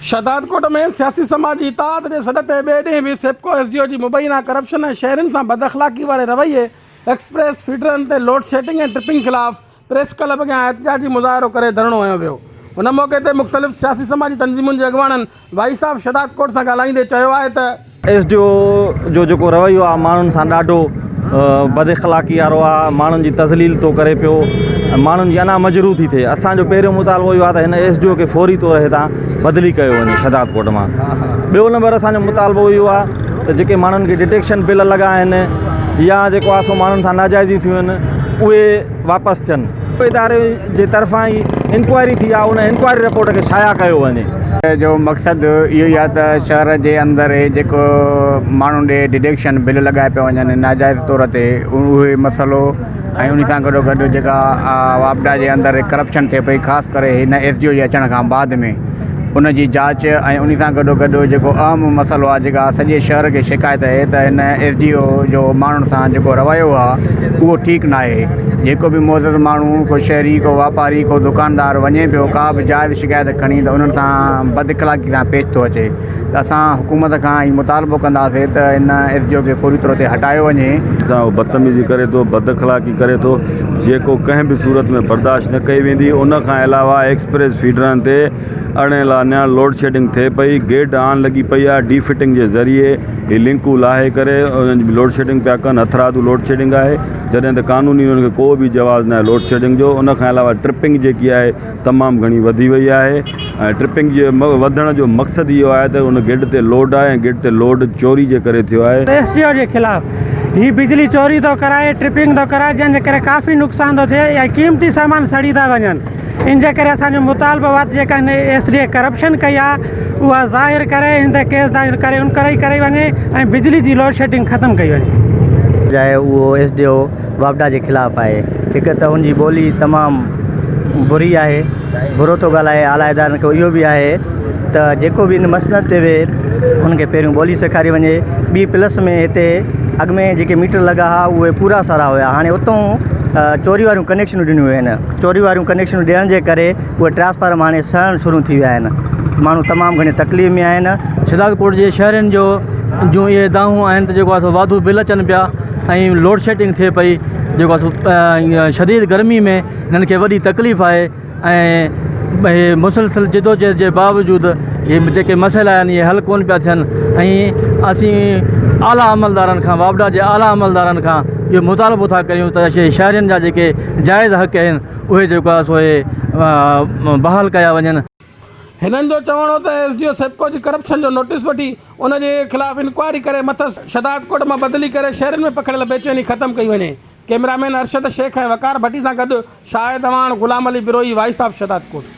شهدادڪوٽ ۾ سياسي سماجي اتحاد جي سڏ تي ٻئي ڏينهن به سيپڪو ايس ڊي او جي مبينا ڪرپشن ۽ شهرين سان بداخلاقي واري رويي، ايڪسپريس فيڊرن تي لوڊشيڊنگ ۽ ٽرپنگ خلاف پريس ڪلب اڳيان احتجاجي مظاهرو ڪري ڌرڻو هنيو ويو ان موقعي تي مختلف سياسي سماجي تنظيمن جي اڳواڻن وائي صاحب شھداد ڪوٽ سان ڳالھائيندي چيو آهي ته ايس ڊي او جو جيڪو رويو آهي ماڻهن سان ڏاڍو بد اخلاقي وارو آهي ماڻهن جي تذليل ٿو ڪري پيو ۽ ماڻهن جي انا مجروح ٿي ٿئي اسان جو پهريون مطالبو اهو آهي ته هن ايس ڊي او کي فوري طور هتان بدلي ڪيو وڃي شھداد ڪوٽ مان ٻيو نمبر اسان جو مطالبو اهو آهي ته جيڪي ماڻهن کي ڊٽيڪشن بل لڳا آهن يا جيڪو آسو ماڻهن سان ناجائزيون ٿيون آهن اهي واپس ٿين. اداري جي طرفان ئي انڪوائري ٿي آ ان انڪوائري رپورٽ کي شايع ڪيو وڃي. جو مقصد اهو ئي آ ته شهر جي اندر هي جيڪو ماڻهو ڏي ڊڊيڪشن بل لڳايا پيا وڃن ناجائز طور تي اهي مسئلو ۽ انهي سان گڏو گڏ جيڪا واپڊا جي اندر ڪرپشن ٿئي پئي خاص ڪري هن ايس ڊي او جي اچڻ کان بعد ۾ ان جي جاچ ۽ انهي سان گڏو گڏ جيڪو اهم مسئلو آهي جيڪا سڄي شهر کي شڪايت اهي ته هن ايس ڊي او جو ماڻهن سان جيڪو رويو آهي اهو ٺيڪ ناهي جيڪو به معزز ماڻهو ڪو شهري ڪو واپاري ڪو دڪاندار وڃي پيو ڪا به جائز شڪايت کڻي ته انهن سان بد اخلاقي سان پيش ٿو اچي ته اسان حڪومت کان هي مطالبو ڪنداسي ته هن ايس ڊي او کي فوري طور تي هٽايو وڃي. سان هو بدتميزي ڪري ٿو بد اخلاقي ڪري ٿو. جيڪو ڪنهن به صورت ۾ برداشت نه ڪئي ويندي ان کان علاوه ايڪسپريس فيڊرن تي اڻ اعلانيا لوڊشيڊنگ ٿئي پئي گيڊ آن لڳي پئي آهي ڊي فٽنگ جي ذريعي هي لنڪون لاهي ڪري لوڊشيڊنگ پيا ڪن هٿرادو لوڊشيڊنگ آهي جڏهن ته قانوني ان کي ڪو به جواز ناهي لوڊشيڊنگ جو ان کان علاوه ٽرپنگ جيڪي آهي تمام گهڻي وڌي وئي آهي ۽ ٽرپنگ جي وڌڻ جو مقصد اهو آهي ته ان گرڊ تي لوڊ آهي ۽ گرڊ تي لوڊ چوري جي ڪري ٿيو آهي. ايس ڊي او جي خلاف هي بجلي چوري ٿو ڪرائي ٽرپنگ ٿو ڪرائي جنهن جي ڪري ڪافي نقصان ٿو ٿئي ۽ قيمتي سامان سڙي ٿا وڃن ان جي ڪري اسان جو مطالبو آهي ته جيڪا هن ايس ڊي اي ڪرپشن ڪئي آهي اها ظاهر ڪري هن تي ڪيس داخل ڪري انڪوائري ڪري وڃي ۽ بجلي جي لوڊشيڊنگ ختم ڪئي وڃي. جاء اهو ايس ڊي او واپڊا جي خلاف آهي. هڪ ته هن جي ٻولي تمام بري آهي، برو ٿو ڳالهائي، اعليٰ ادارن کي اهو به آهي ته جيڪو به هن مسند تي ويهي هن کي پهريون ٻولي سيکاري وڃي، ٻي پلس ۾ هتي اڳ ۾ جيڪي ميٽر لڳا ها اهي پورا سارا هيا هاڻي اتون چوري واريون ڪنيڪشنون ڏنيون ويون آهن، چوري واريون ڪنيڪشنون ڏيڻ جي ڪري اهي ٽرانسفارم هاڻي سڙڻ شروع ٿي ويا آهن، ماڻهو تمام گهڻي تڪليف ۾ آهن. شهدادڪوٽ جي شهرين جو جون اهي دانهون آهن ته جيڪو آهي سو واڌو بل اچن پيا. ۽ لوڊ شيڊنگ ٿئي پئي جيڪو اسو شديد گرمي ۾ ھنن کي وڏي تڪليف آھي ۽ اھي مسلسل جدوجھد جي باوجود اھي جيڪي مسئلا آھن اھي حل ڪون پيا ٿين ۽ اسين اعليٰ عملدارن کان واپڊا جي اعليٰ عملدارن کان اھو مطالبو ٿا ڪريون ته شھي شھرين جا جيڪي جائز حق اھن اھي جيڪو آھي سو اھي بحال ڪيا وڃن هنن جو چوڻ هو ته ايس ڊي او سيپڪو جي ڪرپشن جو نوٽيس وٺي ان جي خلاف انڪوائري ڪري مٿس شھدادڪوٽ مان بدلي ڪري شھرين ۾ پکڙيل بيچيني ختم ڪئي وڃي ڪئميرامين ارشد شيخ ۽ وقار ڀٽي سان گڏ شاهد اعواڻ غلام علي بروهي وائيس آف شھدادڪوٽ.